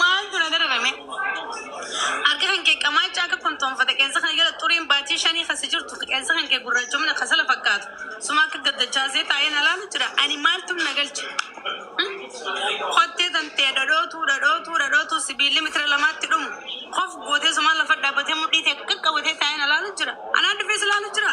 Maaltu na dararame? Harka kan kee qamaacha akka kontoonfate qeensa kana jala xuriin baatii shanii kan si jirtu qeensa kan kee gurraachomina kasala fakkaatu suma akka gaddachaasee taa'een alaalu jira ani maaltu na galche? Hmm? Kottee tantee dhadhootuu dhadhootuu dhadhootuu sibiilli mitira lamaatti dhumu kof gootee sumaan lafa dhaabbatee mudhii tee qaqqabatee taa'een alaalu jira anaan dhufees ilaalu jira.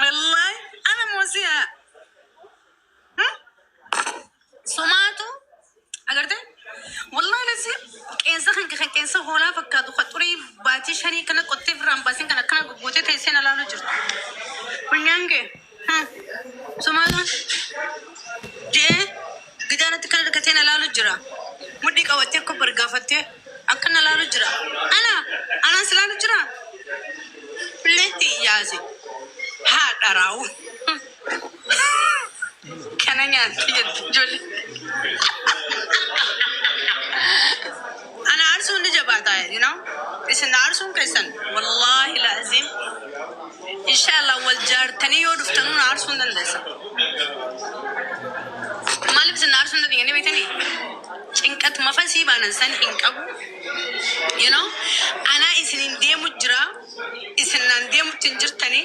Wallaahi ana moosiyaa. Sumaatu agartee wallahi lasi qeensa kan kan qeensa hoolaa fakkaatu kan xurii baatii shanii kana qottee birraan baasin kan akkana goggootee teessee na laaluu jirtu. Funyaan kee sumaatu jee gidaanatti kana hirkatee na laaluu jira. Mudhii qabattee akka bargaafattee akka na laaluu jira. Ana anaan si laaluu jira. Leetti yaase haadha raawuu. Kana nyaatti jetti ijoollee. Ana aarsuun ni jabaata, you know? Isin aarsuun keessan wallaahi laaziim. Inshaallah wal jaartanii yoo dhuftanuu na aarsuu hin dandeessa. Maaliif isin na aarsuu hin dandeenye beektanii? Cinqat mafasii baanan san hin qabu. You know? Anaa isiniin deemu jira. Isin naan deemutti hin jirtanii.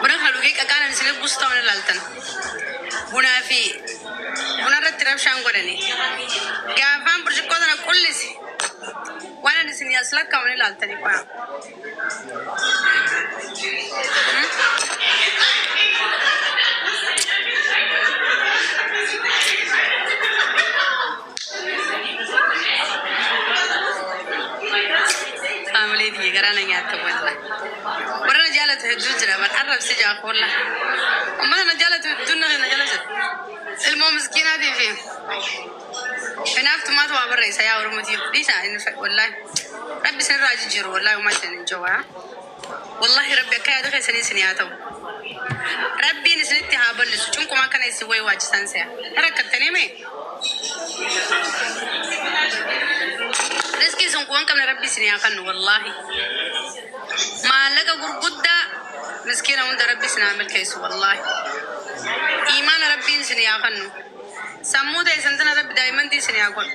Buna kan dhugee qaqaanan isin arguus ta'u na laaltan. Bunaa fi buna irratti rabshaan godhani. Gaafaan burcuqqoo sana qullise waan ani isin as lakkaa'u ni laaltani qoya. Haamilee tiyya garaa na nyaatte wallah. Warra na jaalatu hedduu jira bar arrabsi jaa koolla. Ummata na jaalatu hedduun na na jala jira. Ilmoo miskiinaatii fi hinaaftumaatu waa barreessa yaa Oromoo tiyya. Dhiisaa hin wallah. Rabbi isinirraa haa jijjiiru wallah homaa isin hin jawaa. Wallahi rabbi akka yaada keessanii isinii haa ta'u rabbiin isinitti haa ballisu cunqumaa kana isin wayi waachisaan se'a rakkattanii mee riskii isin quban qabne rabbi isinii haa kannu wallahi maallaqa gurguddaa miskiina hunda rabbi isin haa milkeessu wallahi iimaana rabbiin isinii haa kannu sammuu teessan tana rabbi daa'immantii isinii haa godhu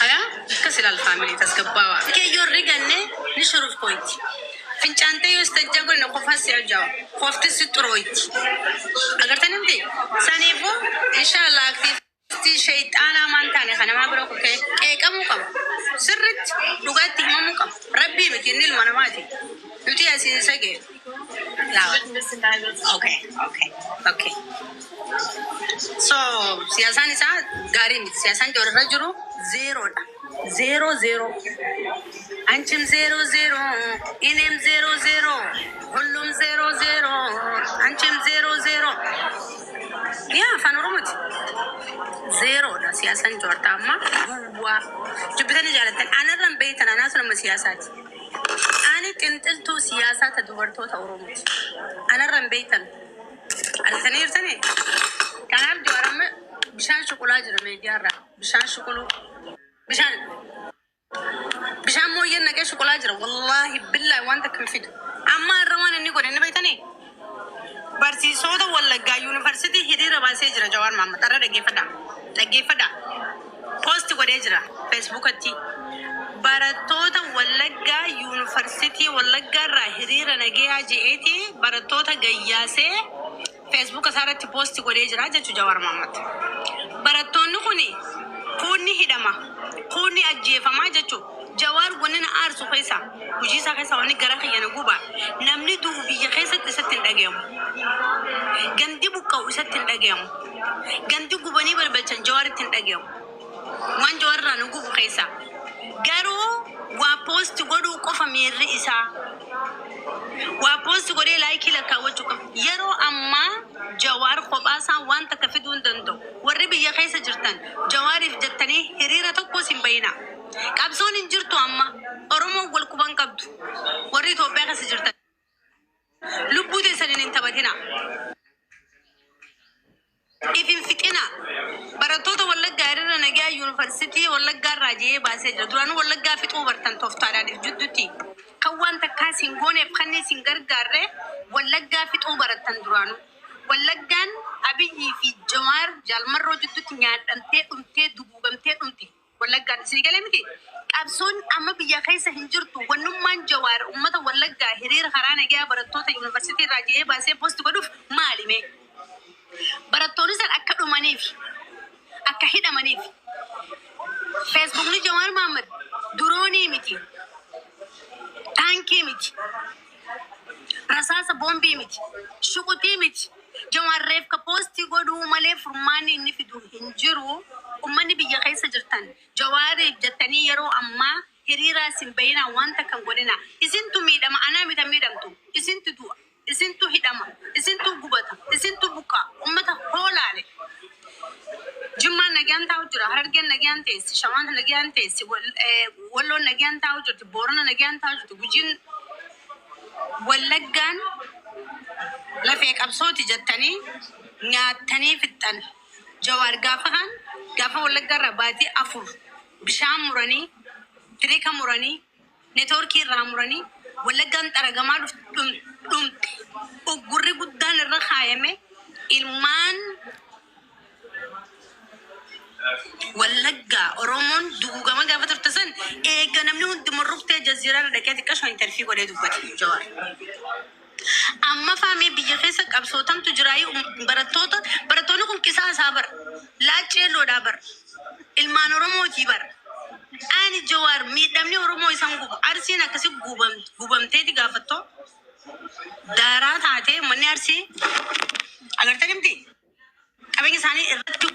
Haya akkas ilaal family tasgabbawa kee yoo riganne ni shuruf koitti fincaantee yoo istajja gone na kofaa si ajawa kofti si xurooitti agartan himti saniifu inshallah aktiivisti sheyxaana amaan taane ka namaa bira kufee qeeqamu qaba sirritti dhugaatti himamu qaba rabbii miti inni ilma namaati nuti asiin isa gee Lawat. Okay, okay, okay. So siyaasaan isaa gaarii miti. Siyaasaan joorra jiru zeeroodha. Zeeroo zeeroo. Anchim zeeroo zeeroo. Inim zeeroo zeeroo. Hullum zeeroo zeeroo. Anchim zeeroo zeeroo. Yaa afaan oromooti. Zeeroodha siyaasaan joorta amma duwwaa. Dubbitanii jaalattan. Anarraan beektan anaa sun amma siyaasaati. Ani xinxiltuu siyaasaa ta dubartoota Oromooti. Anarra hin beektan. Argitanii jirtanii? Kanaaf Jawaar amma bishaan shuqulaa jira miidiyaarraa. Bishaan shuquluu. Bishaan bishaan mooyyeen naqee shuqulaa jira. Wallaahi billaahi waan takka hin fidu. Amma irra waan inni godhe inni beektanii? Barsiisoota Wallaggaa Yuunivarsiitii hiriira baasee jira Jawaar Mahammad har'a dhaggeeffadha dhaggeeffadha post godhee jira feesbuukatti barattoota Wallaggaa Yuunivarsiitii Wallaggaa irraa hiriira nageeyaa je'eeti barattoota gayyaasee feesbuuka isaa irratti post godhee jira jechu Jawaar Mahammad barattoonni kuni kuunni hidhama kuunni ajjeefama jechu Jawaar wanni na aarsu keessaa hujii isaa keessaa wanni garaa kiyya na guba namni du'u biyya keessatti isatti hin dhagayamu. Gandi buqqa'u isatti hin dhagayamu. Gandi gubanii balbalchan Jawaaritti hin dhagayamu. Waan Jawaar irraa na gubu keessaa garuu waa poosti godhuu qofa miirri isaa. Waa poosti godhee laayikii lakkaawwachuu qofa. Yeroo ammaa Jawaar kophaa isaa waan takka fiduu hin danda'u. Warri biyya keessa jirtan Jawaariif jettanii hiriira tokkos hin bayinaa. Qabsoon hin jirtu amma. Oromoon wal quba hin qabdu. Warri Itoophiyaa keessa jirtan lubbuu teessaniin hin taphatinaa. If hin fixinaa. Barattoota Wallaggaa hiriira nagaa Yuunivarsiitii Wallaggaa irraa je'ee baasee jira. Duraanuu Wallaggaa fixuu bartan toftaadhaan if jidduutti. Kan waan takkaa isin gooneef kanni isin gargaarre Wallaggaa fixuu barattan duraanuu. Wallaggaan Abiyyii fi Jawaar, Jaal Marroo jidduutti nyaadhamtee dhumtee duguugamtee dhumte. Wallaggaatti sii galee miti? Qabsoon amma biyya keessa hin jirtu wannummaan Jawaar ummata Wallaggaa hiriira karaa nagayaa barattoota Yuunivarsiitii irraa jedhee baasee post godhuuf maali mee? Barattoonni san akka dhumaniif, akka hidhamaniif Feesbuukni Jawaar Mahaammad duroonii miti, taankii miti. Rasaasa boombii miti, shuquxii miti. Jawaar reefka poostii godhuu malee furmaanni inni fidu hin jiru. Ummanni biyya keessa jirtan Jawaariif jettanii yeroo ammaa hiriiraas hin bahinaa waan takka hin godhinaa. Isintu miidhama anaa miti an miidhamtu. Isintu du'a, isintu hidhama, isintu gubata, isintu buqqa'a. Ummata hoo laale. Jimmaan nagaan taa'u jira, Harargeen nagaan teessi, Shawaan nagaan teessi, Wal- eh, Walloon nagaan taa'u jirti, Boorana nagaan taa'u jirti, Gujiin Wallaggaan lafee qabsooti jettanii nyaattanii fixxan. Jawaar gaafa kaan gaafa Wallaggaa irraa baatii afur bishaan muranii, tirika muranii, Networkii irraa muranii Wallaggaan xaragamaa dhumte. Uggurri guddaan irra kaayame ilmaan Wallaggaa, Oromoon duguugamaa gaafa turte san eega namni hundumuu ruftee Jaziiraa irra dhaqee xiqqashoo interfii godhee dubbate Jawaar. Ammafaa mee biyya keessa qabsoo tamtu jiraayii um, barattoota barattoonni kun qisaa isaa bar laacci yalloodhaa bar ilmaan oromooti bar ani jawaar miidhamni oromoo isan guba arsiin akkasi gubam, gubamteeti gaafattoo daaraa taatee manni arsii agartanii miti qabeenya isaanii irratti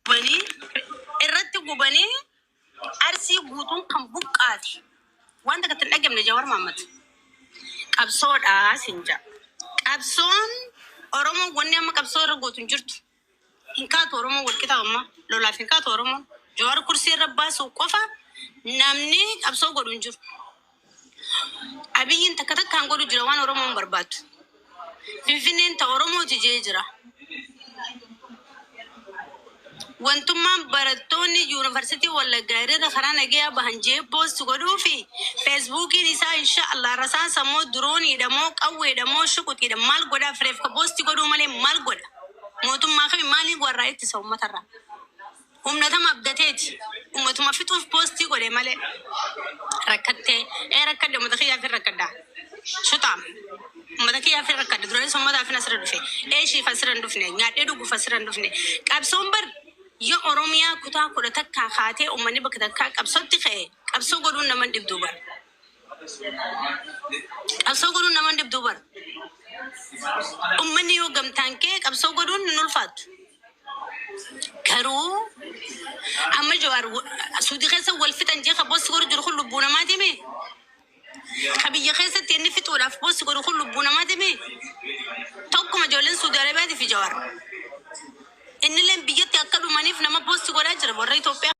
gubanii irratti gubanii arsii guutuun kan buqqaate waan takka itti hin dhagamne jawar maammad qabsoodha sin jedha qabsoon oromoon wanni amma qabsoo irra gootu hin jirtu hin kaatu oromoon walqixaa amma lolaaf hin kaatu oromoon jawar kursii irra baasuu qofa namni qabsoo godhu hin jiru Abiyyiin takka takkaan godhu jira waan Oromoon barbaaddu. Finfinneen ta Oromooti jee jira. Wantummaan barattoonni yuunivarsiitii Wallaggaa irratti karaa nagayaa bahan jee poost godhuu fi feesbuukiin isaa insha Allah rasaasa moo dirooniidha moo qawweedha moo shuquxiidha maal godhaa fireef ka poost godhuu malee maal godha? Mootummaa kami maaliin warraa ittisa uummatarraa? Humna tam abdateeti umatuma fixuuf posti godhe male rakkatte ee rakkadhe umata kiyyaafin rakkadha shuxaam umata kiyyaafin rakkadha duranis ummataafin asira dhufe eeshiif asira hin dhufne nyaadhee dhuguuf asira hin dhufne qabsoon bar yo oromiyaa kutaa kudha takkaa kaatee ummanni bakka takkaa qabsotti ka'e qabsoo godhuun nama hin dhibduu bar Qabsoo godhuun nama hin dhibdu bar. Ummanni yoo gamtaan kee qabsoo godhuun hin ulfaattu. Garuu amma Jawaar wa- suuti keessa wal fixan jee ka boosti godhu jiru kun lubbuu namaati mee? Ka biyya keessatti inni fixuudhaaf boosti godhu kun lubbuu namaati mee? Tokkuma ijoolleen Suudi Arabiyaati fi Jawaar. Innilleen biyyatti akka dhumaniif nama boosti godhaa jira warra Itoophiyaa.